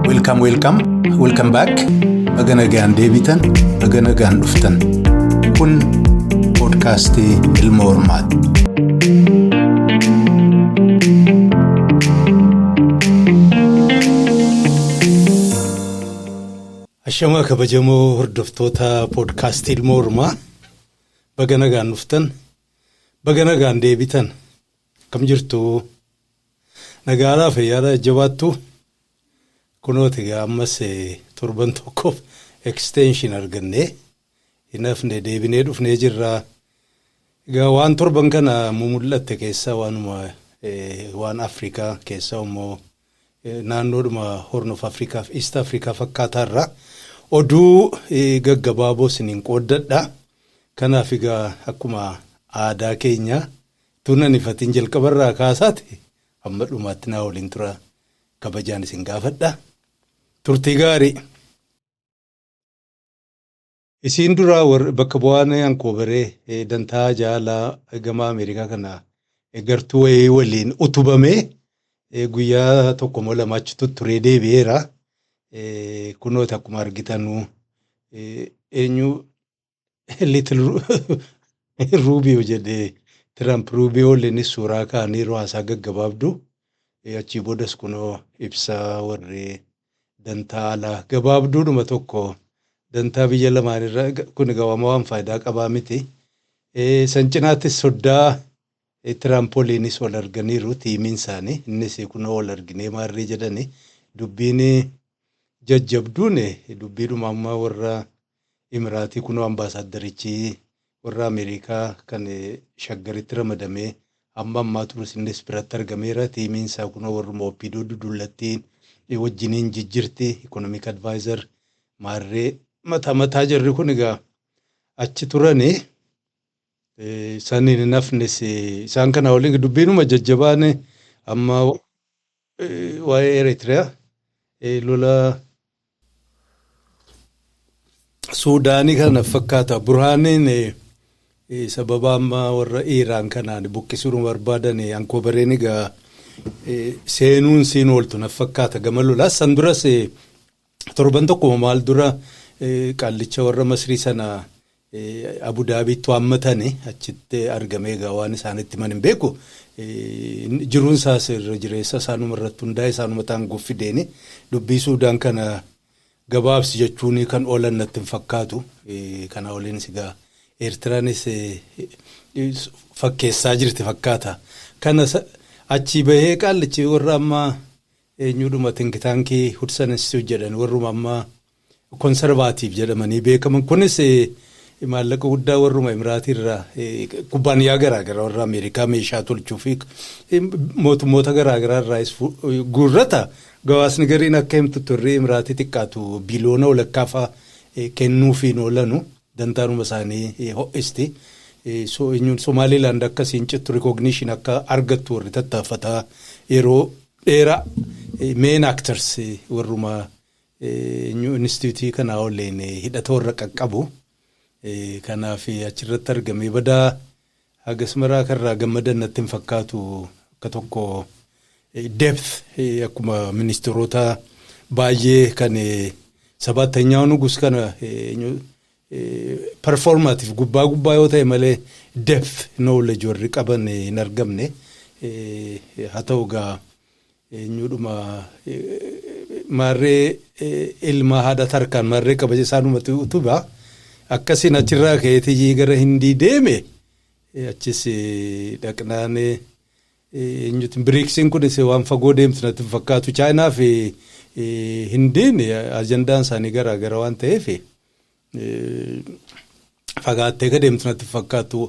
Welcome, welcome, welcome back. Baga nagaan deebitan, baga nagaan dhuftan. Kun poodkaastii ilma hormaati. Ashamaa kabajamoo hordoftoota poodkaastii ilma hormaa baga nagaan dhuftan. Baga nagaan deebitan akkam jirtu nagaadhaa fayyaadhaa jajjabaattu kunooti egaa ammas torban tokkoof extension argannee hin hafne deebinee dhufnee jirra egaa waan torban kana mumul'atte keessaa waanuma waan afrikaa keessaa immoo Naannoodhuma Horn of Africa fi East Africa fakkaataa irraa oduu gaggabaaboo isiniin qooddadha. Kanaaf egaa akkuma aadaa keenyaa utuu nan hifatiin jalqaba irraa kaasaati amma dhumaatti naa waliin tura kabajaan isin gaafadha. Turtii gaarii! Isiin duraa war bakka bu'aan Ankoobere dantaa jaalaa gamaa Ameerikaa kana gartuu wayii waliin utubamee guyyaa tokko moo lama achi tutturee deebi'eera. Kunooti akkuma argitanuu eenyu litil ruubiyoo jedhee Tiraamp ruubiyoo waliin suuraa kaaniiru haasaa gaggabaabdu achii boodas kunoo ibsaa warri dantaa alaa gabaabduudhuma tokko dantaa biyya lamaan irra kun egaa waan waan faayidaa qabaa miti. Eh, San cinaattis soddaa eh, Tiraamp waliinis wal arganiiru tiimiin isaanii innis eh, kunoo wal arginee maarree jedhani dubbiin eh, jajjabduun eh, dubbiidhuma amma warra Imiraatii kunoo Ambaasaaddarichi warra Ameerikaa kan Shaggaritti ramadamee amma ammaa turus innis biratti argameera. Tiimiin isaa kunoo warruma Oppiidoo dudullattiin wajjiniin jijjirti. Ikonomik Advaayizar maarree mata mataa jarri kun egaa achi turani. saniin hin hafnes isaan kana waliin dubbiinuma jajjabaan amma waa'ee Eritrea lola Suudaanii kana fakkaata burhaaniin sababa amma warra Iiraan kanaan buqqisuun barbaadan ankoobareen egaa seenuun siin ooltu na fakkaata gama lolaa san duras Torban tokkuma maal dura qaallicha warra Masrii sana Abu Daabiitti waammatani achitti argamee egaa waan isaanitti himan hin beeku. Jiruun isaas irra jireessa isaanuma irratti hundaa'e isaanuma taanguuf fideeni dubbii Suudaan kana gabaabsi jechuun kan oolan natti hin fakkaatu. Kanaa oliinis egaa Eertiraanis fakkeessaa jirti fakkaata. Kana achii bahee qaallichi warra amma Eenyuudhuma think tank Hudson Institute jedhan warruma amma conservative jedhamanii beekaman kunis maallaqa guddaa warruma Imiraatii irraa kubbaaniyaa garaa gara warra Ameerikaa meeshaa tolchuu fi mootummoota garaa garaa irraayis guurrata gawaasni gariin akka himtutti warri Imiraatii xiqqaatu biliyoona walakkaa fa'a kennuufiin oolanu. dantaanuma isaanii ho'isti. So eenyuun Somaaliilaand akka siin cittu recognition akka argattu warri tattaaffataa yeroo dheeraa main actors warruma eenyu instituutii kanaa waliin hidhata warra qaqqabu. Kanaaf achirratti argamee badaa Hagas maraa akka irraa gammadan natti hin fakkaatu. Akka tokko depth akkuma ministeerota baay'ee kan Sabaattanyaa Nugus kana performative gubbaa gubbaa yoo ta'e malee depth knowledge warri qaban hin argamne. Haa ta'u egaa Eenyuudhuma maarree ilma haadha tarkaan maarree kabaja isaanumatu utuba akkasiin achirraa ka'eeti gara hindii deeme achis dhaqnaan eenyuti biriiksiin kunis waan fagoo deemtu natti hin fakkaatu chaayinaa fi hindiin ajandaan isaanii garaa gara waan ta'eef fagaattee akka deemtu natti hin fakkaatu.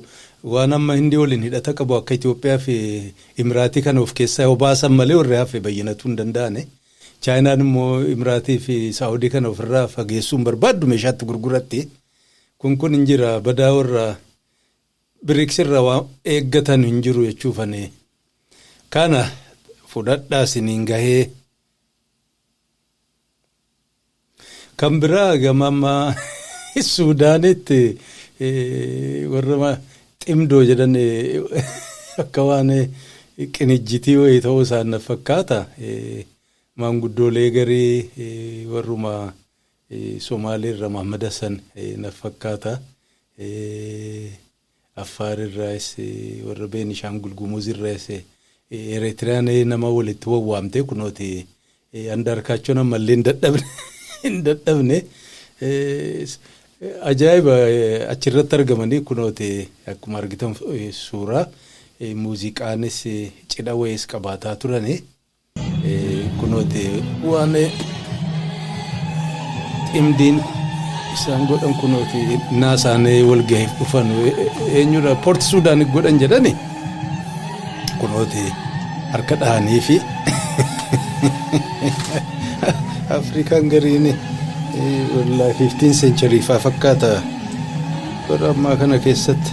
Waan amma Hindii waliin hidhata qabu akka Itoophiyaa fi Imiraatii kana of keessaa yoo baasan malee warri hafe bayyanatuu hin danda'ani. Chaayinaan immoo Imiraatii fi Saawudii kana ofirraa fageessuu hin barbaaddu meeshaatti gurguratti. Kun kun hin jira badaa warra biriiks irraa waan eeggatan hin jiru jechuufani. Kana fudhadhaa siniin gahee. Kan biraa gama amma Suudaanitti warra ximdoo jedhan akka waan qinijjitii wayii ta'uu isaan na fakkaata. Maanguddoolee garii warruma Somaaleerra Mahmad Hassan na fakkaata. Affaar irraayis, warra Beenishaangul Gumuz irraayis, Eretiriyaan nama walitti wawwaamtee kunooti Andaarkaachoon ammallee hin dadhabne hin dadhabne ajaa'iba achirratti argamanii kunooti akkuma argitan suuraa muuziqaanis cidha wayiis qabaataa turani. Kunooti waan ximdiin isaan godhan kunooti naa isaanii walgahiif dhufan eenyudha poorti suudaan godhan jedhani kunooti harka dhahanii fi afrikaan gariin wallaahi 15 seencharii faa fakkaata bara ammaa kana keessatti.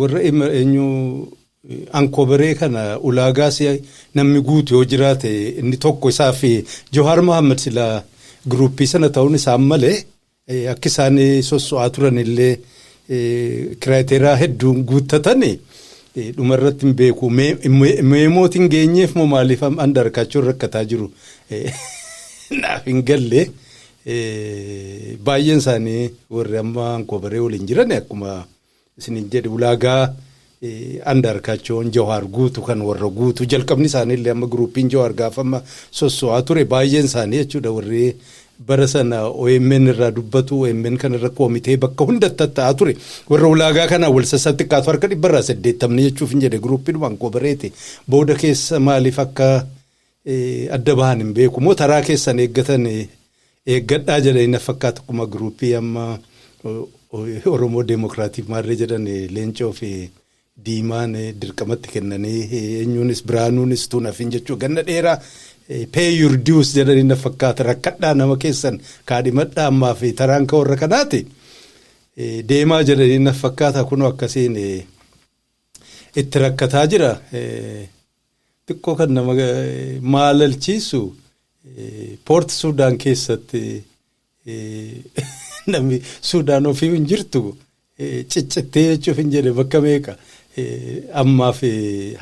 Warra Emmer eenyu Ankoberee kana ulaagaa si namni guutu yoo jiraate inni tokko isaa fi Johaar Mohaammed sila giruuppii sana ta'uun isaan malee akki isaan sosso'aa turan illee kiraateeraa hedduun guuttatani dhuma irratti hin beeku. Meemooti hin geenyeef moo maaliif andarkaachuun rakkataa jiru naaf hin galle baay'een isaanii warri amma Ankoberee waliin jiran akkuma. isinin jedhe ulaagaa Andaarkaachoon Jawaar guutu kan warra guutu jalqabni isaaniillee amma giruupiin Jawaar gaafa amma sosso'aa ture baay'een isaanii jechuudha warri bara sana OMN irraa dubbatu OMN kan irra koomitee bakka hunda tatta'aa ture warra ulaagaa kanaa wal sassaa xiqqaatu harka dhibba irraa saddeettamni jechuuf hin jedhe giruupiidhumaan koobareete booda keessa maaliif akka adda bahan hin beeku moo taraa keessan eeggatan eeggadhaa jedhanii na fakkaata akkuma giruuppii amma Oromoo Deemokiraatiif maarree jedhan leencoo fi diimaan dirqamatti kennanii eenyuunis biraanuunis tuun hafin jechuu ganna dheeraa pay your dues jedhanii na fakkaata rakkadhaa nama keessan kaadhimadhaa ammaa fi taraan ka warra kanaati deemaa jedhanii na fakkaata kunoo akkasiin itti rakkataa jira. xiqqoo kan nama maalalchiisu poorti suudaan keessatti namni suudaan ofii hin jirtu ciccittee jechuuf hin jedhe bakka meeqa ammaaf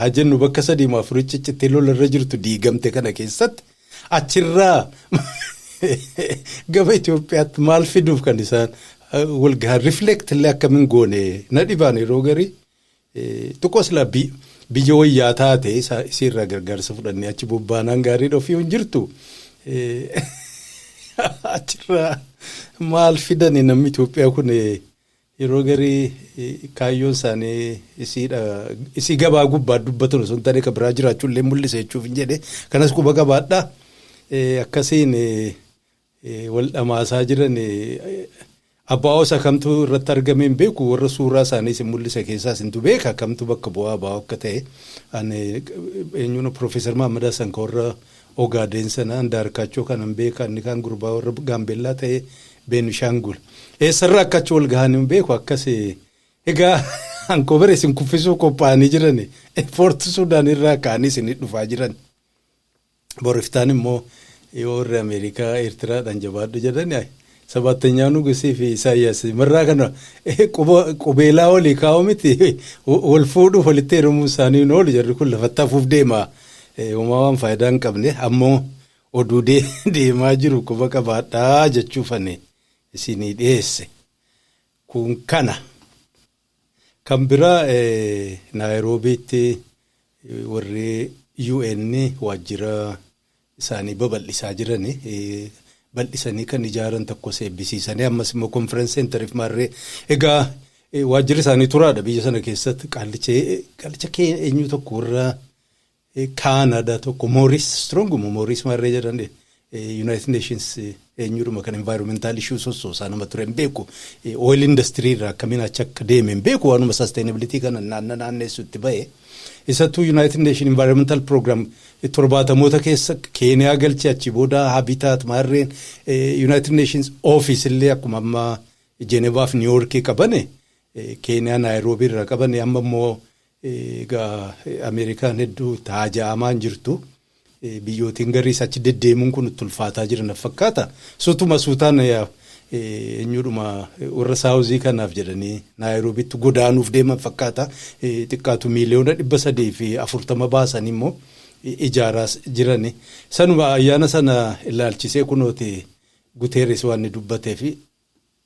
haa jennu bakka sadii maa afurii ciccittee lolarra jirtu diigamte kana keessatti achirraa gama Itoophiyaatti maal fiduuf kan isaan walgahan rifleektillee akkamiin goone na dhibaan yeroo garii Xiqqoo sila biyya wayyaa taate isiirraa gargaarsa fudhannee achi bobbaanaan gaarii dhofii hin jirtu. Achirraa maal fidani namni Itoophiyaa kun yeroo garii kaayyoon isaanii isiidha isii gabaa gubbaa dubbatan osoo hin taane kan biraa jiraachuu illee mul'isa jechuuf hin jedhe kanas quba qabaadha akkasiin wal dhamaasaa jiran abbaa osa kamtu irratti argame hin beeku warra suuraa isaanii isin mul'isa keessaa isintu beeka kamtu bakka bu'aa abbaa akka ta'e ani eenyuun Profeesar Mahammad Hassan ka warra Ogaadeen sana Andaarkaachoo kanan beeka inni kaan gurbaa warra Gaambeellaa ta'e Beenishaangul eessarraa akka achi wal gahan hin beeku akkas egaa ankoobara isin kuffisuu qophaa'anii jiran Poorti Suudaan irraa ka'anii isin dhufaa jiran. Bor iftaan immoo yoo warri Ameerikaa Eertiraadhaan jabaadhu jedhan ay, sabaattanyaa nugusii fi Isaayyaas marraa kana eh, quba- qubeelaa olii kaa'u miti wal fuudhuuf walitti heerumuu isaanii hin oolu jarri kun lafatti hafuuf deema. Eh, Homaa waan faayidaa hin qabne ammoo oduu dee- deemaa jiru quba qabaadhaa jechuufani isinii dhiyeesse. Kun kana. Kan biraa Naayiroobiitti warri UN waajjira isaanii babal'isaa jiran bal'isanii kan ijaaran tokkos eebbisiisanii ammas immoo konferensi seentariif maarree egaa waajjirri isaanii turaadha biyya sana keessatti qaallicha qaallicha kee eenyu tokko warra Kaanada tokko Mooris Strong mo Mooris Marree jedhan United Nations eenyudhuma kan environmental issues sossoosaa nama ture hin beeku oil industry irraa akkamiin achi akka deeme hin beeku waanuma sustainability kana naanna naanneessu itti ba'e isattuu United Nation environmental program torbaatamoota keessa keeniyaa galche achi booda habitat maarreen United Nations office illee akkuma amma Jenevaaf Niiwoorkii qabane keeniyaa Naayiroobii irraa qabane amma immoo Egaa Ameerikaan hedduu itti haaja'amaa hin jirtu. Biyyootiin gariis achi deddeemuun kun itti ulfaataa jira naf fakkaata. Sutuma suutaan eenyuudhuma warra saawuzii kanaaf jedhanii Naayiroobiitti godaanuuf deeman fakkaata. Xiqqaatu miiliyoona dhibba sadii fi afurtama baasanii immoo ijaaraas jirani. Sanuma ayyaana sana ilaalchisee kunooti Guteeres waan inni dubbatee fi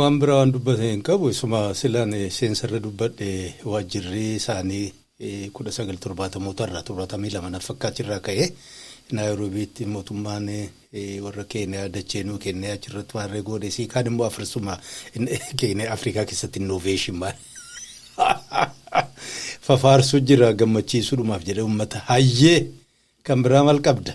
Waan biraa waan dubbate hin qabu. Isuma silan seensarra dubbadhe waajjirri isaanii 19 70moota irraa 72 na fakkaatti irraa ka'ee Naayiroobiitti mootummaan warra Keeniyaa dachee nuu kennee achirratti maarree goone sii kaan immoo afarsuma Keeniyaa Afrikaa keessatti innoveeshin maal fafaarsuu jira gammachiisuudhumaaf jedhee uummata hayyee kan biraa maal qabda.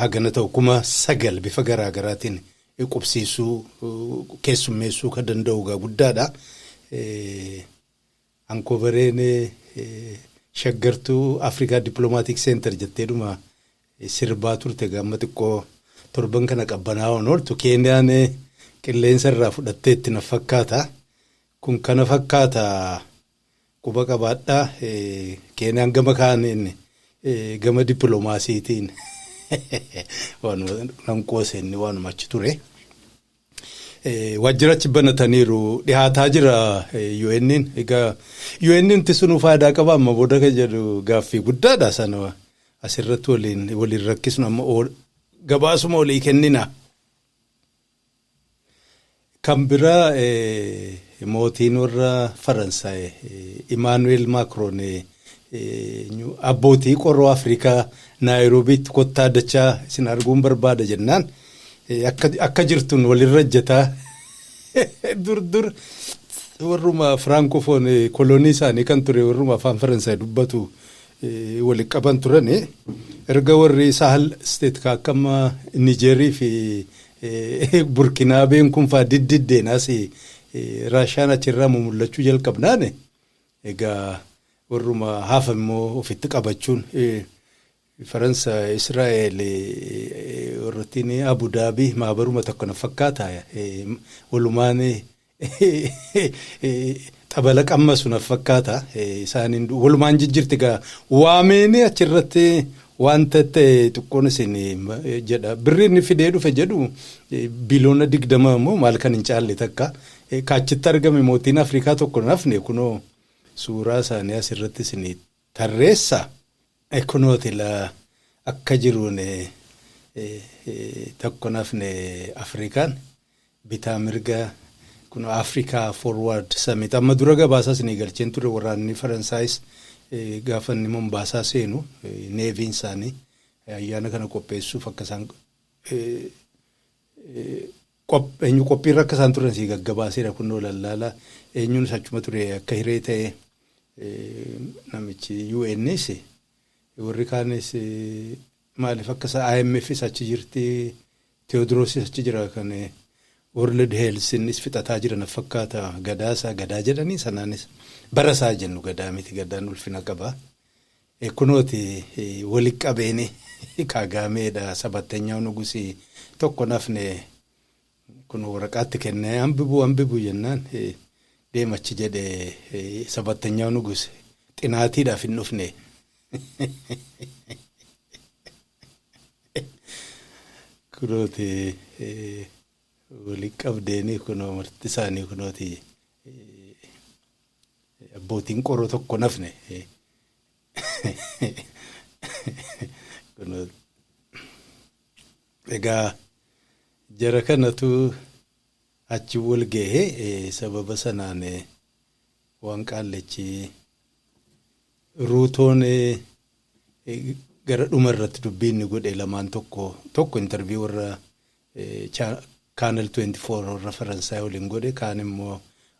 hagana ta'u 9,000 bifa garaa garaatiin qubsiisuu, keessummeessuu ka danda'u egaa guddaadha. Ankoovareen shaggartuu Afrikaa Dippiloomaatiik Seentar jetteedhuma sirbaa turte egaa amma xiqqoo torban kana qabbanaa'oon ooltu Keeniyaan qilleensa irraa fudhatteetti na fakkaata. Kun kana fakkaata Quba qabaadhaa Keeniyaan gama kaaniin gama dippilomaasiitiin waanuma nan qoose inni waanuma achi ture. Waajjira achi banataniiru dhihaataa jira UN'n. Egaa UN'n tisunuu faayidaa qaba amma booda kan jedhu gaaffii guddaadha sana asirratti waliin waliin rakkisnu amma gabaasuma olii kennina. Kan biraa mootiin warra Faransaay Imaanu'eel Maakroon abbootii qoroo Afrikaa Naayiroobiitti kottaa dachaa isin arguun barbaada jennaan akka jirtun walirra ejjataa dur dur warruma Firaankofoon kolonii isaanii kan ture warruma afaan Faransaay dubbatu wali qaban turani. Erga warri Sahal state ka akka amma Nijeerii fi Burkinaabeen kun faa diddiddeen as Raashaan achirraa mumullachuu jalqabnaan egaa warruma hafa immoo ofitti qabachuun Faransa, Israa'el, warrattiin Abu Daabii maabaruma tokko na fakkaata walumaan Xabala qammasu naf fakkaata isaaniin walumaan jijjirti gaa waameenii achirratti wanta ta'e xiqqoon isin jedha birri inni fidee dhufe jedhu biiloona digdama immoo maal kan hin caalle takka kaachitti argame mootiin Afrikaa tokko nafne kunoo suuraa isaanii asirratti isin Tarreessa e kunooti la akka jiruun e tokko hin hafne Afrikaan bitaa mirga kuno Africa Forward Summit amma dura gabaasaa isinii galcheen ture waraanni Faransaayis gaafa inni Mombaasaa seenu neeviin isaanii ayyaana kana qopheessuuf akka isaan Eenyu qophiirra akka isaan turan sii gaggabaaseera kunnoo lallaala eenyuunis achuma ture akka hiree ta'e namichi UNs warri kaanis maaliif akka isaa IMFs achi jirti Teewodirosis achi jira kan World Health innis fixataa jira na fakkaata gadaa isaa gadaa jedhanii sanaanis bara isaa jennu gadaa miti gadaan ulfina qaba E kunooti woli qabeeni Kaagaamee dha sabattanyaaw nugusi tokko hin hafne kuno woraqaa itti kenne anbibu anbibu jennaan deem achi jedhe sabattanyaaw nugusi xinaatii dhaaf hin dhufne kunooti woli qabdeeni kuno marti isaanii kunooti Abbootiin qoroo tokko nafne. Kunoo egaa jara kanatu achi wal gahe eh, sababa sanaan eh, waan qaallichi ruutoon eh, eh, gara dhuma irratti dubbii inni godhe lamaan tokko tokko intarvii warra eh, cha- kaanal 24 warra faransaay waliin godhe kaan immoo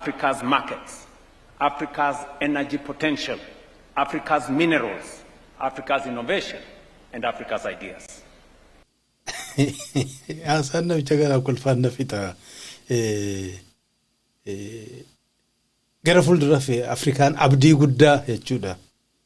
Africa's markets, Africa's energy potential, Africa's minerals, Africa's innovation and Africa's ideas. Haasaan namicha kanaa kolfaan na fixa. Gara fuulduraaf Afrikaan abdii guddaa jechuudha.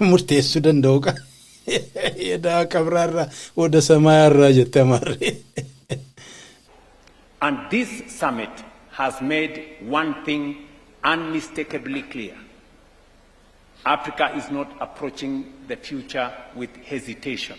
murteessuu danda'u qa edaa qabraarraa oda samaayarraa jette amaarri. And this summit has made one thing unmistakably clear, Africa is not approaching the future with hesitation,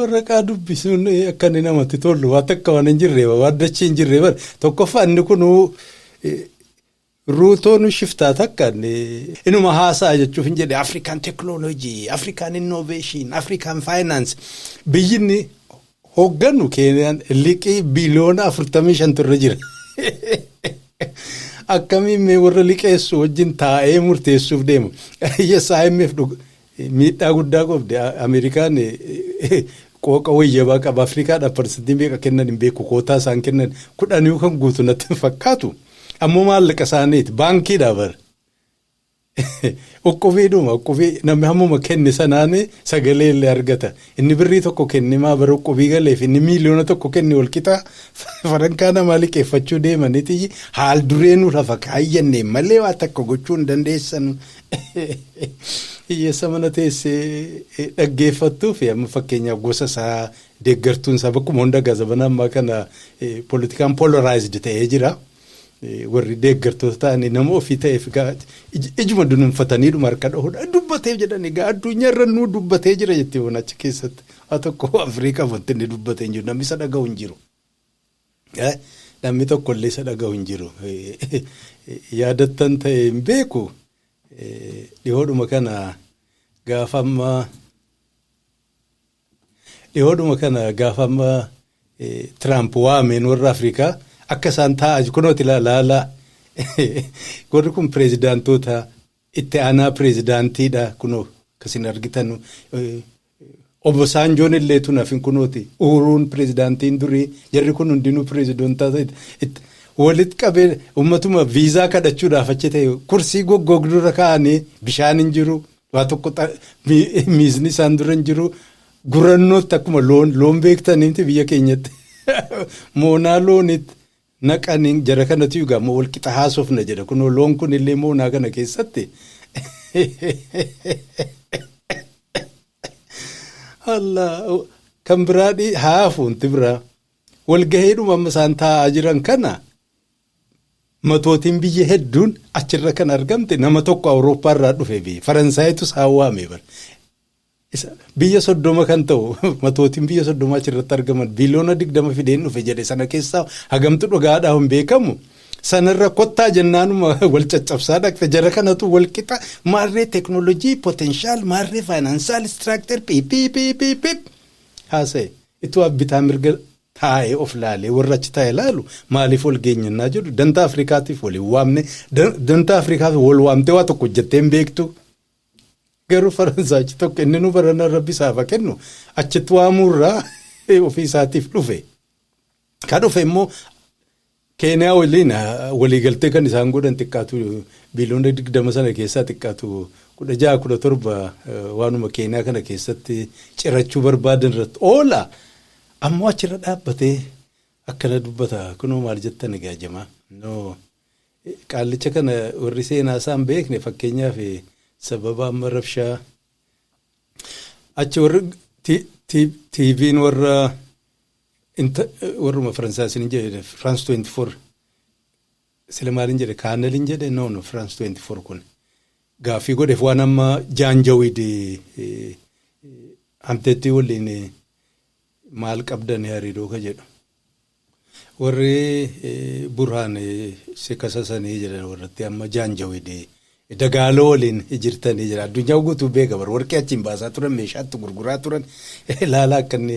warraqaa dubbisuun akka inni namatti tolu waan takka waan hin jirre waan dachee hin jirre bara tokkoffaa inni kun ruutoon shiftaa takka inuma haasaa jechuuf hin jedhe afrikaan teeknooloojii afrikaan innoveeshin afrikaan faayinaansi biyyinni hooggannu Keeniyaan liqii biliyoona 45 irra jira. Akkamiin mee warra liqeessu wajjin taa'ee murteessuuf deema. Yes IMF dhug- miidhaa guddaa qabdi. A- Ameerikaan eh, eh, qooqa wayyabaa qaba. Afrikaadhaaf parsantii meeqa kennan hin beeku. Kootaa isaan kennan kudhaniyu kan guutu natti hin fakkaatu. Ammoo maallaqa isaaniiti. Baankiidhaa bara. Uqqubiidhuma uqqubii namni hammuma kenne sanaan sagalee illee argata. Inni birrii tokko kenne maa bara uqqubii galeef inni miiliyoona tokko kenne wal qixa farankaa namaa liqeeffachuu deemaniti haal duree nu lafa kaayyanne malee waa takka gochuu hin dandeessanu. Hiyyeessa mana teessee dhaggeeffattuu fi amma fakkeenyaaf gosa isaa deeggartuun isaa bakkuma hunda gaazabana ammaa kana politikaan polarized ta'ee jira. warri deeggartoota ta'anii nama ofii ta'eef egaa ijuma dunuunfatanii dhuma harka dhahudha. Dubbatee jedhan egaa addunyaa irra nuu dubbatee jira jettee waan achi keessatti. Haa tokko Afrikaa wanti inni dubbatee hin jiru namni isa dhagahu hin jiru. Namni tokko illee isa dhagahu hin jiru. Yaadattan ta'e hin beeku dhihoodhuma kana gaafa ammaa Dhihoodhuma kana gaafa amma Tiraamp waameen warra Afrikaa akka isaan taa'aa jiru kunooti laalaa warri kun pireezidaantoota itti aanaa pireezidaantiidha kunoo akkasiin argitan obbo Saanjoon illee tun hafin kunooti uuruun pireezidaantiin durii jarri kun hundinuu pireezidoontaa walitti qabee uummatuma viizaa kadhachuudhaaf achi ta'e kursii goggoogdurra kaa'anii bishaan hin jiru Waa tokko miisni isaan dura hin jiru. Gurannootti akkuma loon loon beektaniimti biyya keenyatti moonaa loonitti naqanii jara kanatu egaa moo wal qixa haasofna jedha kunoo loon kun illee moonaa kana keessatti Allah kan biraa haafuunti biraa walgaheedhuma amma isaan taa'aa jiran kana Matootiin biyya hedduun achirra kan argamte nama tokko Awurooppaa irraa dhufe bee Faransaayitu isaan waame bar. Isa biyya soddoma kan ta'u matootiin biyya soddoma achirratti argaman biliyoona digdama fideen dhufe jedhe sana keessaa hagamtu dhugaadhaa hin beekamu. Sanarra kottaa jennaanuma wal caccabsaa dhaqxe jara kanatu wal qixa maarree teknoolojii potenshaal maarree faayinaansaal istiraakter piipiipiipiip haasa'e. Itoo abbitaa mirga taa'ee of laalee warra achi taa'e laalu maaliif wal geenya innaa jedhu dantaa Afrikaatiif wal hin waamne dantaa Afrikaaf wal waamtee waa tokko hojjettee hin beektu garuu Faransaayichi tokko inni nu barana rabbi isaaf haa kennu achitti waamuurraa ofii isaatiif dhufe. Ka dhufe immoo Keeniyaa waliin waliigaltee kan isaan godhan xiqqaatu biiliyoona 20 sana keessaa xiqqaatu 16, 17 waanuma Keeniyaa kana keessatti cirachuu barbaadan irratti oola. Ammoo achirra dhaabbatee akkana dubbata kunoo maal jettan egaa jamaa. No. Qaallicha kana warri seenaa isaa hin beekne fakkeenyaaf sababa amma rabshaa achi warri ti- ti- tiiviin warra Inta warruma Faransaay isinin jedhe France 24 sila maalin jedhe kaanelin jedhe no no France 24 kun gaaffii godheef waan amma jaanjawid hamteettii waliin maal qabdan hariiroo ka jedhu warri burhaan si kasasanii jedhan warratti amma jaanjawid dagaaloo waliin jirtanii jedha addunyaa guutuu beeka bar warqii achiin baasaa turan meeshaatti gurguraa turan laalaa akka inni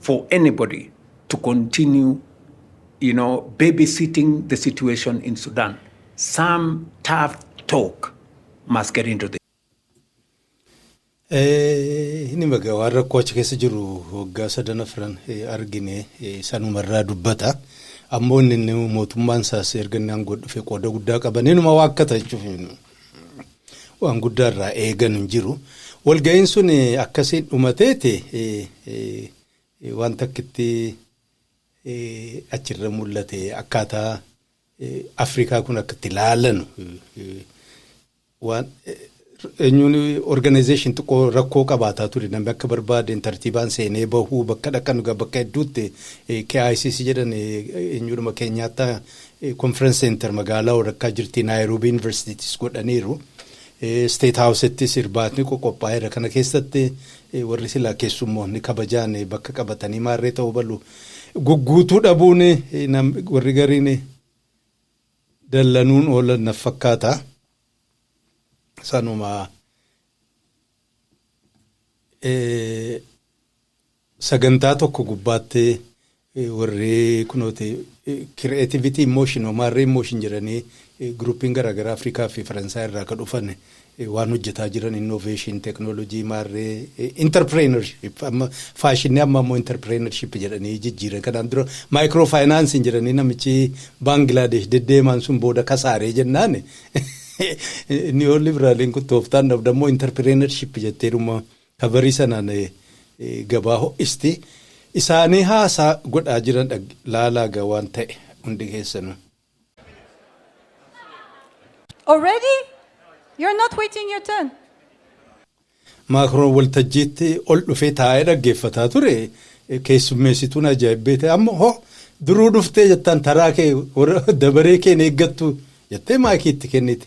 for anybody to continue you know, babysitting the situation in Sudan. Some tough talk must get into the Inni baga waan rakkoo achi keessa jiru waggaa sadan afran argine sanumarraa dubbata. Ammoo inni mootummaan isaas erga inni aangoo dhufe qooda guddaa qaban inuma waakkata jechuuf. Waan guddaa irraa eegan hin jiru. Walga'iin sun akkasiin dhumateeti waan takkitti achirra mul'ate akkaataa Afrikaa kun akka itti laalanu waan eenyuun organization xiqqoo rakkoo qabaataa ture namni akka barbaadeen tartiibaan seenee bahuu bakka dhaqan bakka hedduutti KICC jedhan eenyuudhuma keenyaattaa Conference Center magaalaa walakkaa jirti Naayiroobii Yuunivarsiitiittis godhaniiru. State Housettis irbaatni qoqophaa'eera. Kana keessatti warri silaa keessummoonni kabajaan bakka qabatanii maarree ta'uu balu. Gugguutuu dhabuun warri gariin dallanuun oolan naf fakkaata. Sanuma Sagantaa tokko gubbaatti warri kunooti creativity in motion or maarree in motion jedhanii groupiin garaagaraa Afrikaa fi Faransaay irraa ka dhufan waan hojjetaa jiran innovation, technology, maarree entrepreneurship amma faashinni amma ammoo entrepreneurship jedhanii jijjiiran kanaan dura micro financing jedhanii namichi Baangilaadesh deddeemaan sun booda kasaaree jennaan neoliberaliin kun tooftaan dhabdammoo entrepreneurship jetteedhuma Ta barii sanaan gabaa ho'isti isaanii haasaa godhaa jiran dhag laalaa ga waan ta'e hundi keessanu. Already? You're not waiting your turn. Maakroon waltajjiitti ol dhufee taa'ee dhaggeeffataa ture keessummeessituun ajaa'ibbeete amma ho duruu dhuftee jettaan taraa kee dabaree keen eeggattu jettee maayikii itti kennite.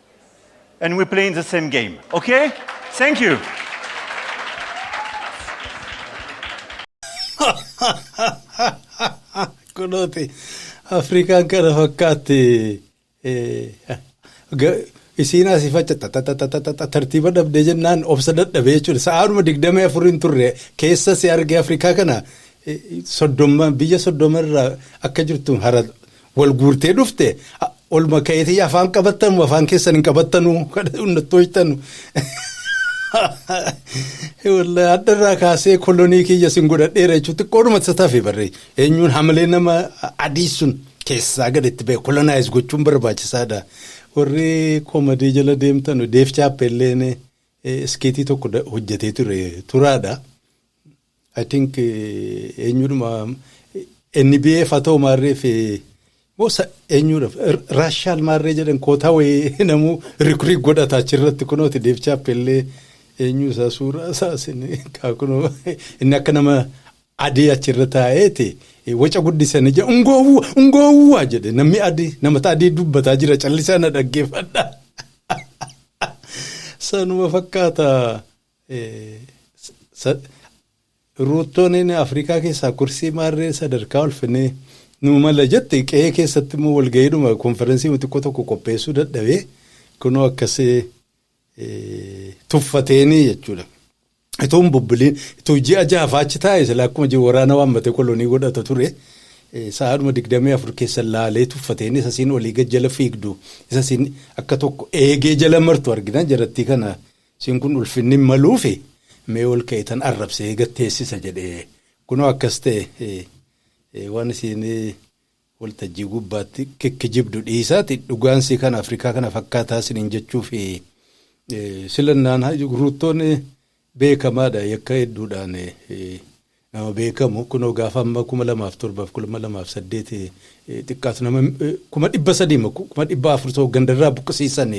and we're playing the same game. Okay? Thank you. Kunooti Afrikaan kana fakkaatti isiin asii faccata tartiiba dhabdee jennaan obsa dadhabee jechuudha. Sa'aanuma digdamii afuriin turre keessa si argee Afrikaa kana soddoma biyya soddoma irraa akka jirtu hara Wal guurtee dhufte olma ka'eetii afaan qabattanu afaan keessan hin qabattanu nattoojtanu. Wallahi hadharraa kaasee kolonii kiyya sin godhadheera jechuun xiqqoodhuma isa tafe barree eenyuun hamilee nama adii sun keessaa gad itti ba'e kolonaayiz gochuun barbaachisaadha. Warri koomadii jala deemtan deef chaappeelleen iskiitii tokko hojjetee ture turaadha. I think eenyudhuma NBA fatoo maarree fi moo sa eenyudha Raashaal maarree jedhan kootaa wayii namuu rikrii godhata achirratti kunooti deebichaa pellee eenyu isaa suuraa isaa sin kaakunoo inni akka nama adii achirra taa'eeti waca guddisanii jedha ungoowwa ungoowwa jedhe namni adii namata adii dubbataa jira callisaa na dhaggeeffadha sanuma fakkaata. Ruuttoon Afrikaa keessaa kursii maarree sadarkaa ulfinee nuu mala jette qe'ee keessatti immoo walga'iidhuma konferensii xiqqoo tokko qopheessuu dadhabee kunoo akkasii tuffateenii jechuudha. Ituu hin bubbuliin ituu ji'a jaafaa achi taa'e sila akkuma jiru waraana waammate kolonii godhata ture. Sa'aadhuma digdamii afur keessa laalee tuffateenii isa siin olii gad jala fiigdu isa siin akka tokko eegee jala martu argina jarattii kana Isiin kun ulfinni hin maluufi mee ol ka'itan arrabse eega teessisa jedhe kunoo akkas ta'e waan isiin waltajjii gubbaatti kikkijibdu dhiisaati dhugaan sii kana Afrikaa kana fakkaataa isiniin jechuufi silannaan ruuttoon beekamaadha yakka hedduudhaan nama beekamu kunoo gaafa amma 2007 fi 2008 xiqqaatu nama 300,000 mo 400,000 ta'u gandarraa buqqisiisan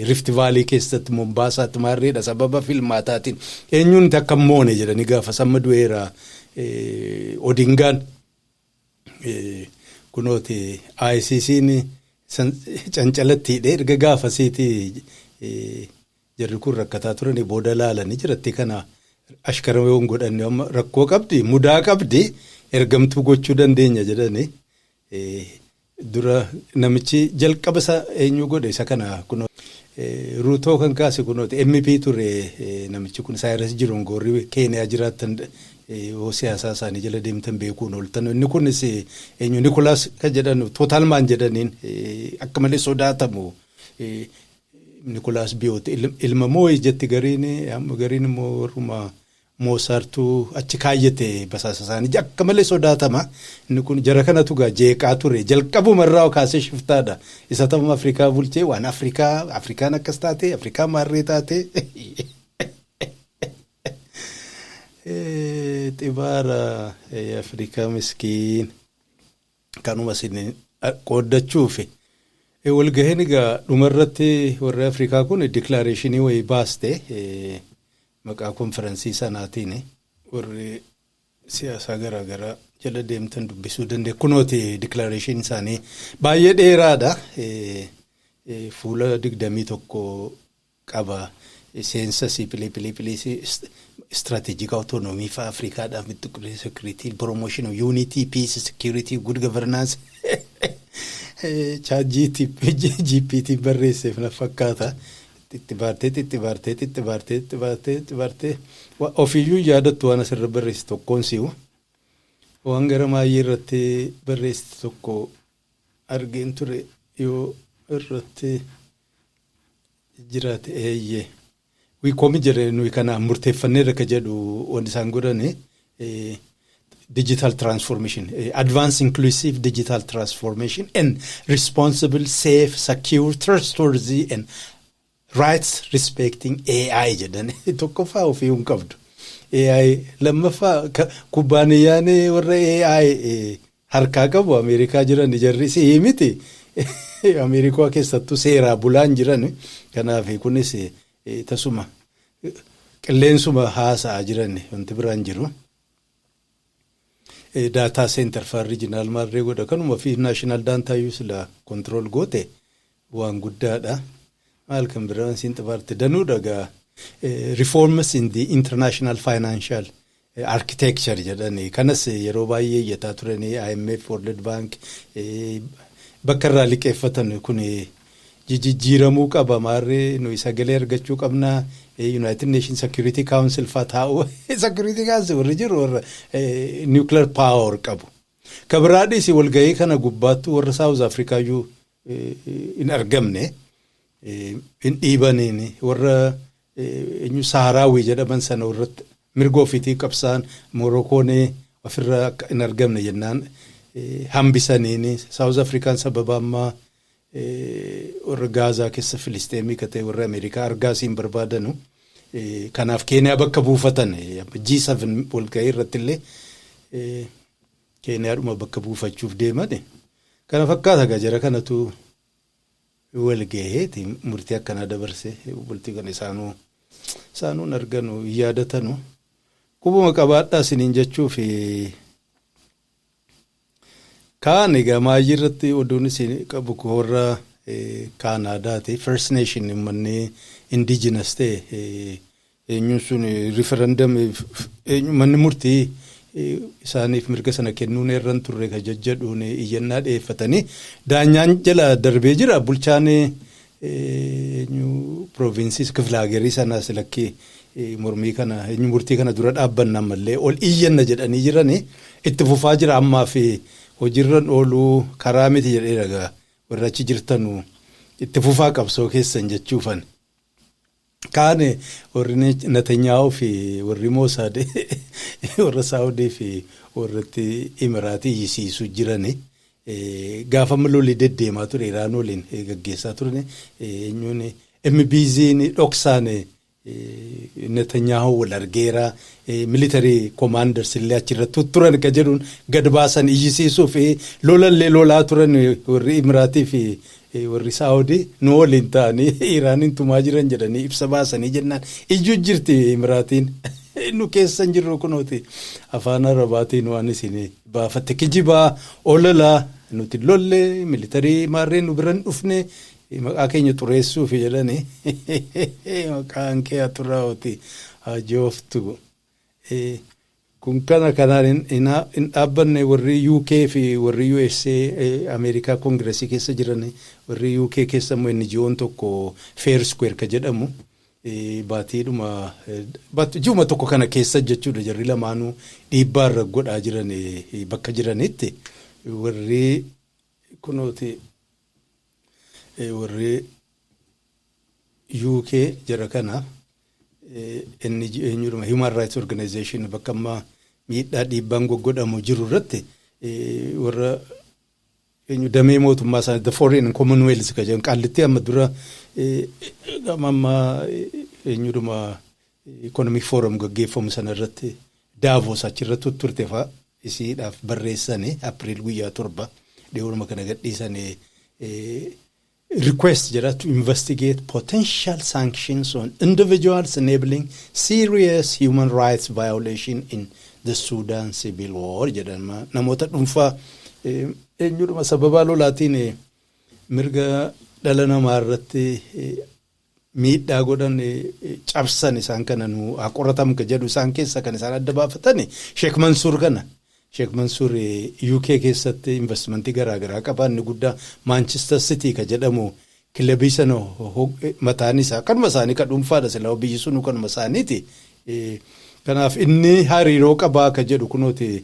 Rift Vaalii keessatti Mombaasaatti maarreedha sababa filmaataatiin eenyuun takka moone jedhanii gaafa samma du'eera Odingaan kunooti ICC'n cancalatti hidhee erga gaafasiiti Jarri kun rakkataa turani booda laalani jarattii kana ashkara yoo hin godhanne amma rakkoo qabdi mudaa qabdi ergamtuu gochuu dandeenya jedhani dura namichi jalqaba isa eenyuu godhe isa kana kunoo Ruutoo kan kaase kunooti MP ture namichi kun Saayiras Jiroon goorri Keeniyaa jiraattan yoo siyaasaa isaanii jala deemtan beekuun ooltan inni kunis eenyu Nikolaas kan jedhan Tootalmaan jedhaniin akka malee sodaatamu Nikolaas Biyoot ilma moo'e jetti gariin gariin immoo warruma moosaartu achi kaayyate basaasa isaanii akka malee sodaatama inni kun jara kanatu gaa jeeqaa ture jalqabuma irraa kaasee shiftaadha isa ta'uma Afrikaa bulchee waan Afrikaa Afrikaan akkas taate Afrikaa maarree taate xibaara Afrikaa miskiin. Kanuma isin qooddachuufi. Walgahiin egaa dhumarratti warri Afrikaa kun diklaareeshinii wayii baaste maqaa konfiransii sanaatiin warri siyaasaa garaa garaa jala deemtan dubbisuu dandee kunooti diklaareeshinii isaanii baay'ee dheeraadha fuula digdamii tokko qaba. Seensa si pili pili pili si strategic autonomy fa Africa dha with security promotion of unity peace security good governance chat GPT barreesseef na fakkaata. Xixxibaartee xixxibaartee xixxibaartee xixxibaartee xixxibaartee wa- ofiiyyuu hin yaadattu waan asirra barreessi tokkoon si'u waan gara maayyee irratti barreessi tokko argeen ture yoo irratti jiraate eeyyee wii koomi jedhe nuyi kana murteeffanneerra ka jedhu wanti isaan godhani eh, digital transformation eh, advanced inclusive digital transformation and responsible safe secure trustworthy and Rights respecting AI jedhan tokkoffaa ofii hin qabdu. AI lammaffaa ka- kubbaaniyyaan warra AI eh, harkaa qabu Ameerikaa jiran jarri si'ii miti. Ameerikaa keessattuu seeraa bulaan jiran kanaaf kunis eh, eh, tasuma eh, qilleensuma haasa'aa jiran wanti biraan jiru. Eh, daataa seentar faan riijinaal maarree godha kanuma fi naashinaal daantaa iyyuu sila kontirool goote waan guddaadha. Maal kan biraa siin xabaarte danuudha gaa reforms in the international financial architecture jedhani kanas yeroo baay'ee iyyataa turanii IMF World Bank bakka irraa liqeeffatan kun jijjiiramuu qaba maarree nuyi sagalee argachuu qabna United Nations Security Council faa taa'u Security Council warri jiru warra nuclear power qabu. Kabiraadhis walgahii kana gubbaattuu warra South Africa iyyuu hin argamne hin dhiibaniin warra eenyu saaraawii jedhaman sana irratti mirga ofiitii qabsaan Morookoon ofirra akka hin argamne jennaan hambisaniin Saawuz Afrikaan sababa ammaa warra Gaazaa keessa Filisteemii katee warra Ameerikaa argaasiin barbaadanu kanaaf Keeniyaa bakka buufatan G7 walgahii irratti illee Keeniyaadhuma bakka buufachuuf deemani kana fakkaata egaa jara kanatu wal gaheeti murtii akkanaa dabarse bultii kana isaanuu isaanuu hin arganu hin yaadatanu qubuma qabaadhaa isiniin jechuufi kaan egaa maayyii irratti oduun isin qabu koo warra kaanaadaati first nation ummanni indigenous ta'e Eenyuun sun referendum eenyu manni murtii isaaniif mirga sana kennuun irra hin turre ka jajjadhuun iyyannaa dhiyeeffatanii daanyaan jala darbee jira bulchaan eenyu provinsiis kifla hagerii sanaas lakkii mormii kana eenyu murtii kana dura dhaabbanna ammallee ol iyyanna jedhanii jiranii itti fufaa jira ammaa fi hojiirran ooluu karaa miti jedhee ragaa warra achi jirtanu itti fufaa qabsoo keessan jechuufan. Kaan warri Natanyaahuu fi warri Moosaad warra Saawudii fi warratti Imiraatii iyyisiisu jirani. Gaafa amma loli deddeemaa ture Iraan waliin gaggeessaa turani eenyuun MBZ'n dhoksaan Natanyaahuu wal argeera militarii komaanders illee achirratti turan ka jedhuun gad baasan iyyisiisuu fi lolallee lolaa turan warri Imiraatii fi Warri Saawudi nu waliin ta'anii Iraaniin tumaa jiran jedhanii ibsa baasanii jennaan iyyuu jirti Imiraatiin. Nu keessa hin jirru kunooti afaan Arabaatiin waan isin baafatte kijibaa ololaa nuti hin lolle militarii maarree nu bira hin dhufne maqaa keenya xureessuufi jedhanii maqaan kee haa xuraa'uti haa jooftu. Kun kana kanaan hin dhaabbanne warri UK fi warri USA Ameerikaa Kongiresii keessa jiran warri UK keessa immoo NGO'n tokko Fair Square ka jedhamu baatiidhuma ji'uma tokko kana keessa jechuudha jarri lamaanuu dhiibbaa irra godhaa jiran bakka jiranitti warri kunooti warri UK jara kana NG eenyudhuma Human Rights Organization bakka amma miidhaa dhiibbaan goggodhamu jiru irratti warra eenyu damee mootummaa isaa the foreign and commonwealth ka jedhan qaallitti amma dura gama amma eenyudhuma economic forum gaggeeffamu sana irratti daavos achirratti turte fa'a isiidhaaf barreessani april guyyaa torba dhiyoonuma kana gadhiisani request jedha to investigate potential sanctions on individuals enabling serious human rights violation in the Sudan civil war jedhan ma- namoota dhuunfaa eh, eenyudhuma sababaa lolaatiin eh, mirga dhala namaa irratti eh, miidhaa godhan cabsan isaan kana nu haa qoratam ka jedhu isaan keessa kan isaan adda baafatan Sheek Mansuur kana. Sheek Mansuur UK keessatti investimentii garaa garaa qaba inni guddaa Maanchister Sitii ka jedhamu kilabii sana mataan isaa kanuma isaanii ka dhuunfaadha silaa biyyi sunuu kanuma isaaniiti. Kanaaf inni hariiroo qabaa ka jedhu kunooti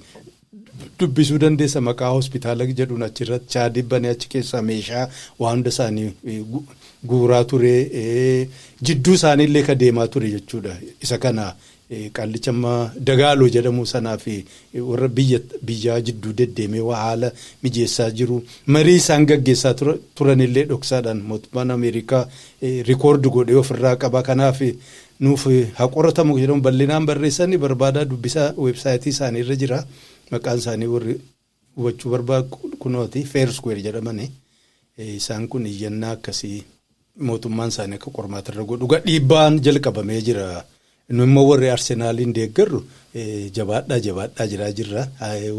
dubbisuu dandeessa maqaa hospitaala jedhuun achirratti chaadii banee achi keessaa meeshaa waa hunda isaanii eh, gu- guuraa ture eh, jidduu isaanii illee ka deemaa ture jechuudha isa kana eh, qallicha amma dagaaloo jedhamu sanaa fi eh, warra biyya biyyaa jidduu deddeemee waa haala mijeessaa jiru marii isaan gaggeessaa tura- turan illee dhoksaadhaan mootummaan ameerikaa eh, rikoordi godhee ofirraa qaba kanaaf eh, nuuf haa qoratamu kan jedhamu bal'inaan barreessan barbaadaa dubbisaa weebsaayitii isaanii irra jira maqaan isaanii warri hubachuu barbaadu kunooti feerskuweer jedhamani isaan kun iyyannaa akkasii mootummaan isaanii akka qormaata irra godhu dhiibbaan jalqabamee jira nu immoo warri arsenaaliin deeggarru Jabaadhaa jabaadhaa jiraa jirra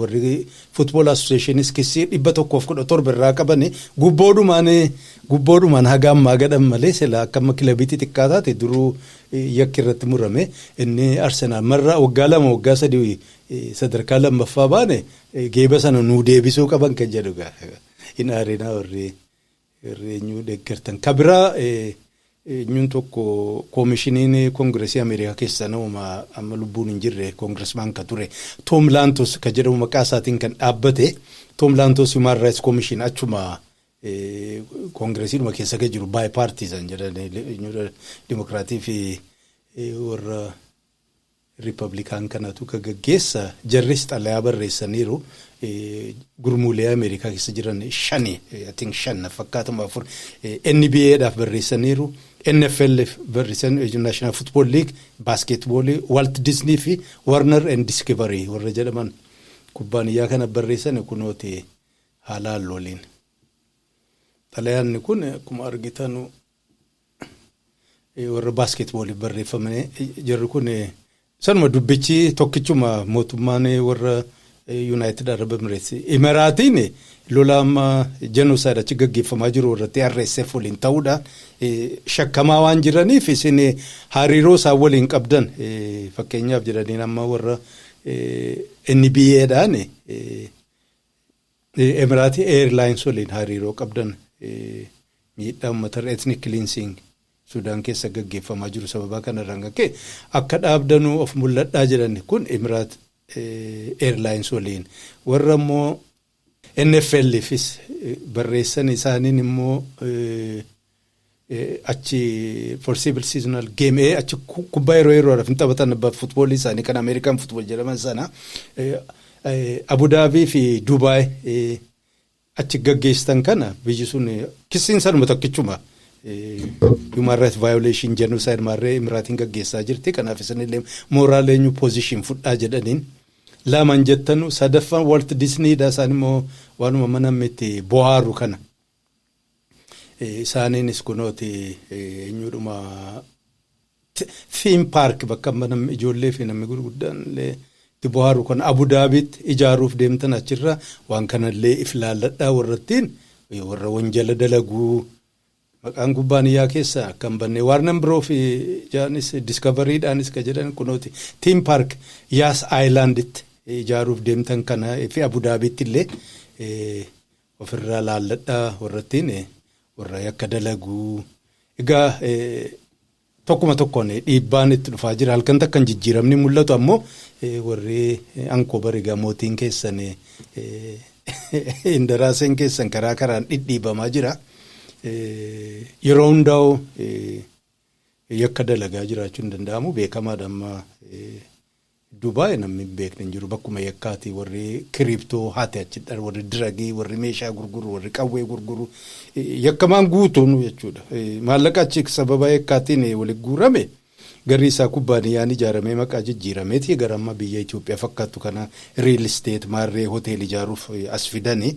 warri football associationis kissii dhibba tokkoof kudha torba irraa qabani gubboodhumaan gubboodhumaan haga ammaa gadhan malee sila akka amma kilabii xixiqqaa taate duruu yakki irratti murame inni arsenaal marra waggaa lama waggaa sadii sadarkaa lammaffaa baane geeba sana nuu deebisuu qaban kan jedhu gaa hin aarinaa warri Heerri eenyuu deggertan? Ka biraa eenyuun tokko koomishiniin koongiresii Ameerikaa keessaa namuma amma lubbuun hin jirre koongiresmaan ka ture Toom Laantos ka jedhamu maqaa isaatiin kan dhaabbate Toom Laantos Human Rights Commission achuma koongiresiidhuma keessa ka jiru bipartisan jedhan dimokiraatii fi warra Rippabilikaan kanatu ka gaggeessa. Jarris xalayaa barreessaniiru. Gurmuulee Ameerikaa keessa jiran shani, I think shan na fakkaata moo afur, NBA dhaaf barreessaniiru, NFLf barreessan, National Football League, Baaskeetboolii, Walt Disney fi Warner and Discovery warra jedhaman kubbaaniyyaa kanaf barreessani kunooti haa laallu waliin. Xalayaanni kun akkuma argitanu warra baaskeetbooliif barreeffamne jarri kun sanuma dubbichi tokkichuma mootummaan warra yuunaayitid arab emireets imeraatiin lola amma jenosaayid achi gaggeeffamaa jiru irratti RSF waliin ta'uudhaan shakkamaa waan jiraniif isin hariiroo isaan waliin qabdan fakkeenyaaf jedhaniin amma warra NBA'dhaan Emirati Air Lines waliin hariiroo qabdan miidhaa uummatarra ethnic cleansing Sudaan keessa gaggeeffamaa jiru sababaa kanarraan kan ka'e akka dhaabdanu of mul'adhaa jedhan kun Emirat Air Lines waliin warra immoo NFLfis barreessan isaaniin immoo achi foreseeable seasonal game ee achi ku- kubbaa yeroo yeroodhaaf hin taphatan abba futboolii isaanii kan Ameerikaan futbool jedhaman sana eh, eh, Abudaabii fi Dubaay eh, achi gaggeessitan kana biyyi sun eh, kissiin sanuma tokkichuma eh, human rights violation genocide maarree imiraatiin gaggeessaa jirti kanaaf isinillee mooraal eenyu position fudhaa jedhaniin lamaan jettanu sadaffaan Walt Disney dha isaan immoo waanuma mana miti bohaaru kana. Isaaniinis kunooti eenyuudhuma theme park bakka amma namni ijoollee fi namni gurguddaan illee itti bohaaru kan Abu Daabiitti ijaaruuf deemtan achirra waan kanallee if laalladhaa warrattiin warra wanjala dalaguu maqaan kubbaaniyyaa keessa akka hin banne waarnan biroo fi jaanis diskavariidhaanis ka jedhan kunooti theme park yaas aayilaanditti ijaaruuf deemtan kana fi Abu Daabiitti illee Of irraa laalladhaa warra ittiin warra yakka dalagu. Egaa tokkuma tokkoon dhiibbaan itti dhufaa jira. Halkan takkan jijjiiramni mul'atu ammoo warri ankoobar egaa mootiin keessan indaraaseen keessan karaa karaan dhidhiibamaa jira. Yeroo hundaa'u yakka dalagaa jiraachuun danda'amu beekamaadha amma Dubai namni hin beekne hin jiru bakkuma yakkaati warri crypto hate achi dha warri diragii warri meeshaa gurguru warri qawwee gurguru yakkamaan guutuun jechuudha maallaqa achi sababa yakkaatiin wali guurame garri isaa kubbaaniyyaan ijaaramee maqaa jijjiirameeti gara amma biyya Itoophiyaa fakkaattu kana real estate maarree hotel ijaaruuf as fidani.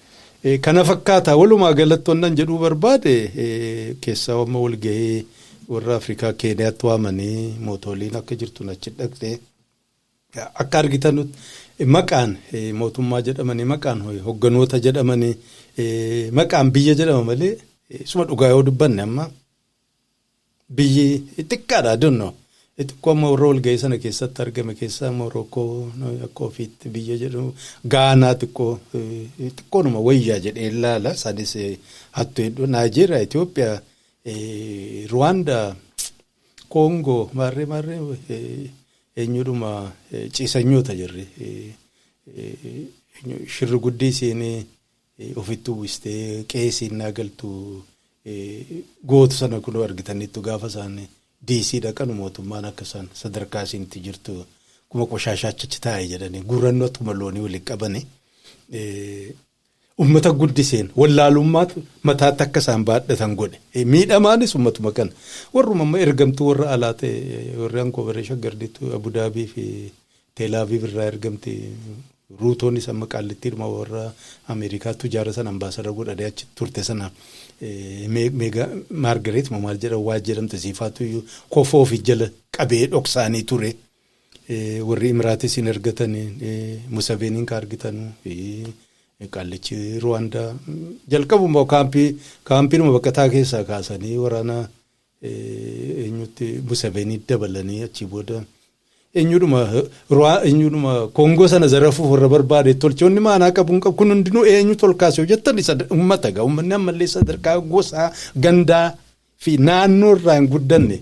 Kana fakkaata walumaa galatti wannan jedhuu barbaade keessaa amma walgahii warra Afrikaa Keeniyaatti waamanii mootooliin akka jirtu achi dhaqxe akka argitan maqaan mootummaa jedhamanii maqaan hogganoota jedhamanii maqaan biyya jedhama malee suma dhugaa yoo dubbanne amma Biyyi xiqqaadha, I don't know. I xiqqoo amma warra walga'ii sana keessatti argame keessaa Morookoo akka ofiitti biyya jedhu Gaanaa xiqqoo xiqqoonuma wayyaa jedhee ilaala. Isaanis hattu hedduu Naayijeeriyaa, Itoophiyaa, Ruwaandaa, Koongoo maarree maarree eenyudhuma ciisanyoota jirri. Shirri guddii isiin ofitti uwwistee qe'ee isii ennaa galtu gootu sana kunoo argitaniittu gaafa isaan DC dhaqanu mootummaan akka isaan sadarkaa isiin itti jirtu kuma qoshaashaacha achi taa'e jedhanii gurrannoo akkuma loonii waliin qabanii ummata guddiseen wallaalummaatu mataatti akka isaan baadhatan godhe miidhamaanis ummatuma kana warruma amma ergamtuu warra alaa ta'e warri ankoobaree shaggardiitu abudaabii fi Tel Aviv irraa ergamte. Ruutoonis amma Qaallittiidhuma warra Ameerikaa tujaara sana ambaasadara godhadee achi turte sana Meega Maargareet moo maal jedhan waa jedhamte siifaatu iyyuu kofoo ofi jala qabee dhoksaanii ture. Warri Imiraatis hin ergatan Musaveeniin ka argitanu qaallichi Ruwaandaa jalqabuma kaampii kaampiinuma baqataa keessaa kaasanii waraana eenyutti Museveni dabalanii achii booda eenyudhuma ruwaa eenyudhuma koongoo sana zarafuuf warra barbaade tolchoonni maanaa qabu hin qabu kun hundinuu eenyu tolkaas yoo jettan isa ummata egaa ummanni ammallee sadarkaa gosaa gandaa fi naannoo irraa hin guddanne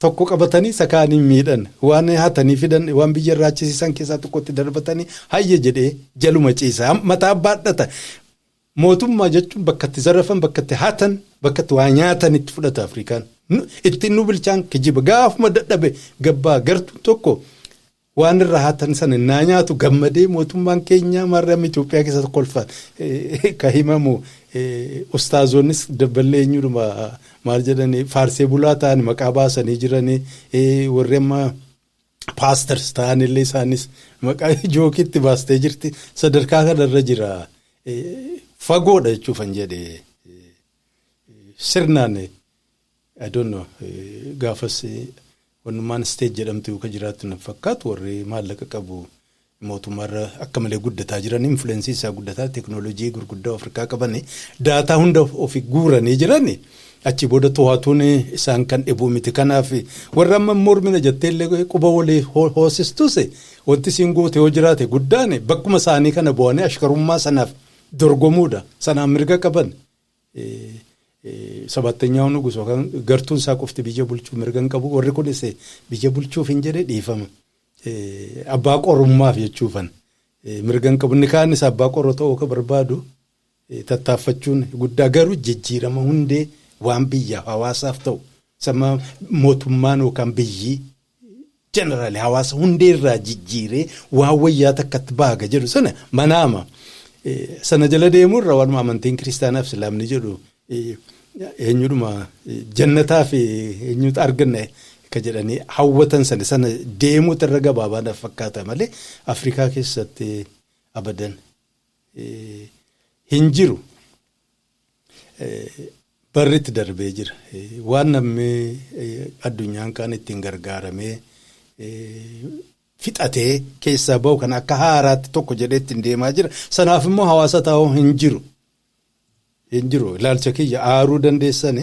tokko qabatanii isa kaaniin miidhan waan hatanii fidan waan biyya irraa achisiisan keessaa tokkotti darbatanii hayya jedhee jaluma ciisa mataa baadhata Mootummaa jechuun bakka itti zarafan, bakka itti hatan, bakka itti waa nyaatan itti fudhata Afrikaan. Nu, ittiin nu bilchaan kijiba. Gaafuma dadhabe gabbaa gartuun tokko waan irraa hatan sana innaa nyaatu gammadee mootummaan keenyaa maarree Itoophiyaa keessatti kolfaan eh, ka himamu eh, ustaazoonnis dabballee eenyudhuma maal jedhanii faarsee bulaa ta'an maqaa baasanii jiranii eh, warri amma paasters ta'an illee isaanis maqaa jookiitti baastee jirti sadarkaa kanarra jira fagoodha jechuufan jedhe sirnaan adoonno gaafas wannummaan isteej jedhamtu yookaan jiraattu na fakkaatu warri maallaqa qabu mootummaa irra akka malee guddataa jiran influensii isaa guddataa teknoolojii gurguddaa of harkaa qabani daataa hunda ofi guuranii jirani achi booda to'atuun isaan kan dhibuu miti kanaaf warra amma mormina jettee illee quba walii ho- hoosistus wanti isiin goote yoo jiraate guddaan bakkuma isaanii kana bu'anii ashkarummaa sanaaf dorgomuudha sanaan mirga qaban Eh, eh, sabaattanyaa nugus yookaan gartuun isaa qofti biyya bulchuu mirga hin qabu warri kunis biyya bulchuuf hin jedhe dhiifama. abbaa qorummaaf jechuufan mirgan qabu. Inni kaanis abbaa qoroo ta'uu akka barbaadu tattaaffachuun guddaa garuu jijjiirama hundee waan biyyaaf hawaasaaf ta'u sama mootummaan yookaan biyyi jeneraali hawaasa hundee irraa jijjiiree waan wayyaa takkatti baaga jedhu sana manaama. Sana jala deemuu irra waanuma amantiin kiristaanaaf islaamni jedhu Eenyudhuma jannataa fi eenyutu arganna akka jedhanii hawwatan sana sana deemuutu irra gabaabaa fakkaata malee Afrikaa keessatti abadan hin jiru. Barri itti darbee jira. Waan namni addunyaan kaan ittiin gargaaramee fixatee keessaa bahu kana akka haaraatti tokko jedhee ittiin deemaa jira. Sanaaf immoo hawaasa taa'u hin jiru. hin jiru ilaalcha kiyya aaruu dandeessan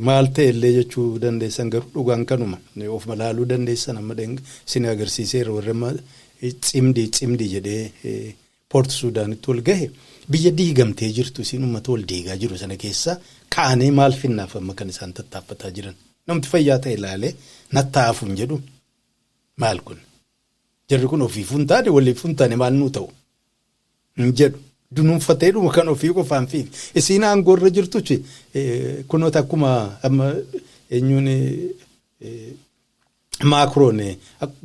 maal ta'e illee jechuu dandeessan garuu dhugaan kanuma of malaaluu dandeessan amma dheng isin agarsiiseera warri amma cimdii cimdii jedhee poort suudaanitti wal gahe biyya diigamtee jirtu isin ummata wal diigaa jiru sana keessa kaanee maal finnaaf amma kan isaan tattaaffataa jiran namti fayyaa ta'e ilaalee nattaafu hin jedhu maal kun jarri kun ofiifuu hin taane waliifuu hin taane maal nuu ta'u hin jedhu. Dunuunfateedhuma kan ofii qofaan fi isiin aangoo irra jirtuch kunoo takkuma amma eenyuun maakroon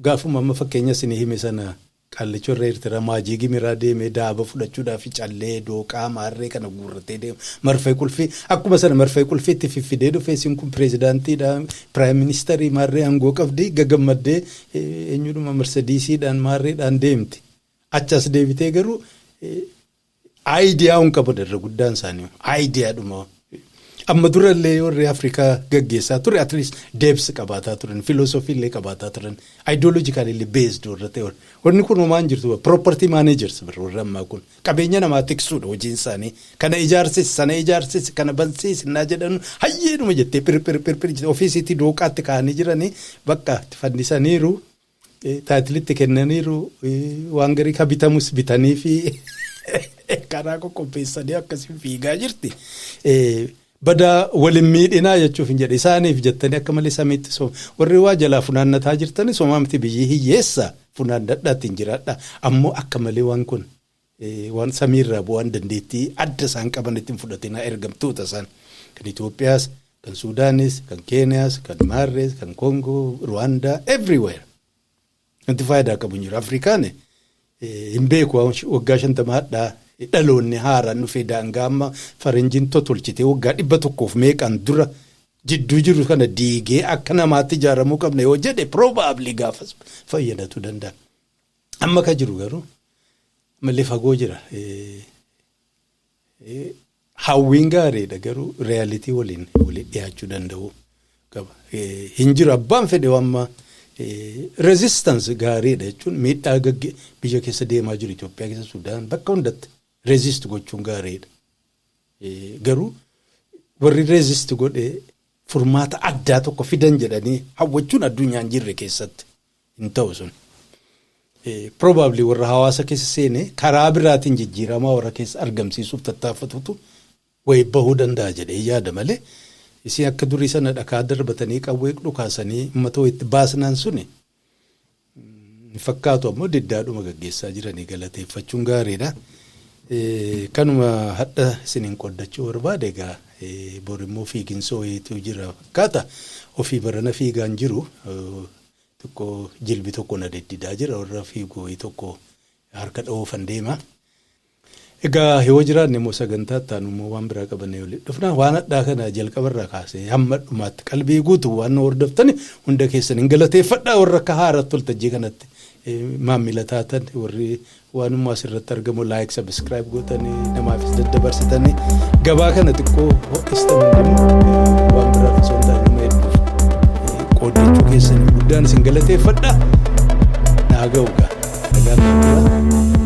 gaafuma amma fakkeenya isinii hime sana qaallicha irra Eertiraa maajii gimiraa deemee daaba fudhachuudhaaf callee dooqaa maarree kana guurratee deema marfee qulfii akkuma sana marfee qulfii itti fiffidee dhufee isin kun pireezidaantiidha piraayim ministarii maarree aangoo qabdi gagammaddee eenyudhuma marsadiisiidhaan maarreedhaan deemti Achi as deebitee garuu aayidiyaa'uun qaban irra guddaan isaanii aayidiyaadhuma. Amma durallee warri Afrikaa gaggeessaa ture at least deebs qabaataa turan filoosofii illee qabaataa turan ideological illee based warra ta'e wanni kun homaa hin jirtu property managers bara warra ammaa kun qabeenya namaa tiksuudha hojiin isaanii kana ijaarsis sana ijaarsis kana bansiis innaa jedhan hayyeedhuma jettee phirphirphirphir ofiisiitti dooqaatti kaa'anii jiranii bakka itti fannisaniiru taayitilitti kennaniiru waan garii ka bitamus bitanii fi karaa qoqqopheessanii akkasiin fiigaa jirti. Badaa waliin miidhinaa jechuuf hin jedhe isaaniif jettanii akka malee samiitti sooma warri waa jalaa funaannataa jirtanii somaa miti biyyi hiyyeessa funaannadhaatiin jiraadha ammoo akka malee waan kun Waan samii irraa bu'an dandeettii adda isaan qabanitti hin fudhatinaa ergamtoota isaan kan Itoophiyaas, kan Suudaanis, kan Keeniyaas, kan Maarrees, kan Koongoo, Ruwaandaa everywhere wanti faayidaa qabu hin jiru. Afrikaan hin beeku waggaa shantama hadhaa dhaloonni haaraan dhufee daangaa amma faranjiin totolchitee waggaa dhibba tokkoof meeqaan dura jidduu jiru kana diigee akka namaatti ijaaramuu qabna yoo jedhe probably gaafas fayyadatu danda'a. Amma ka jiru garuu mallee fagoo jira. Hawwiin gaariidha garuu reyaalitii waliin waliin dhiyaachuu danda'u qaba. Hin jiru abbaan fedhe amma rezistansi gaariidha jechuun miidhaa gagge biyya keessa deemaa jiru Itoophiyaa keessa Sudaan bakka hundatti rezist gochuun gaariidha. Garuu warri rezist godhe furmaata addaa tokko fidan jedhanii hawwachuun addunyaa hin jirre keessatti. hin ta'u sun. Probably warra hawaasa keessa seene karaa biraatiin jijjiiramaa warra keessa argamsiisuuf tattaaffatutu wayi bahuu danda'a jedhee yaada malee isin akka durii sana dhakaa darbatanii qawwee dhukaasanii uummata wayitti baasnaan suni hin fakkaatu ammoo diddaadhuma gaggeessaa jiranii galateeffachuun gaariidha. Kanuma hadha isiniin qoddachuu barbaade egaa borimmoo fiiginsoo wayiitu jira fakkaata ofii barana fiigaan jiru Tokko jilbi tokko na diddidaa jira warra fiigu wayii tokko harka dhoofan deema. Egaa yoo jiraanne immoo sagantaa itti aanu immoo waan biraa qabannee walitti dhufna. Waan hadhaa kana jalqaba irraa kaasee hamma dhumaatti qalbii guutu waan nu hordoftani hunda keessan hin galateeffadha warra akka haaraatti waltajjii kanatti maammila taatan warri Waanuma asirratti argamu like subscribe gootanii namaafis daddabarsitanii gabaa kana xiqqoo ho'istan hundinuu waan biraaf osoo hin taane nama hedduuf qooddachuu keessaniif guddaan isin galateeffadha. Naa ga'u gaa. Nagaan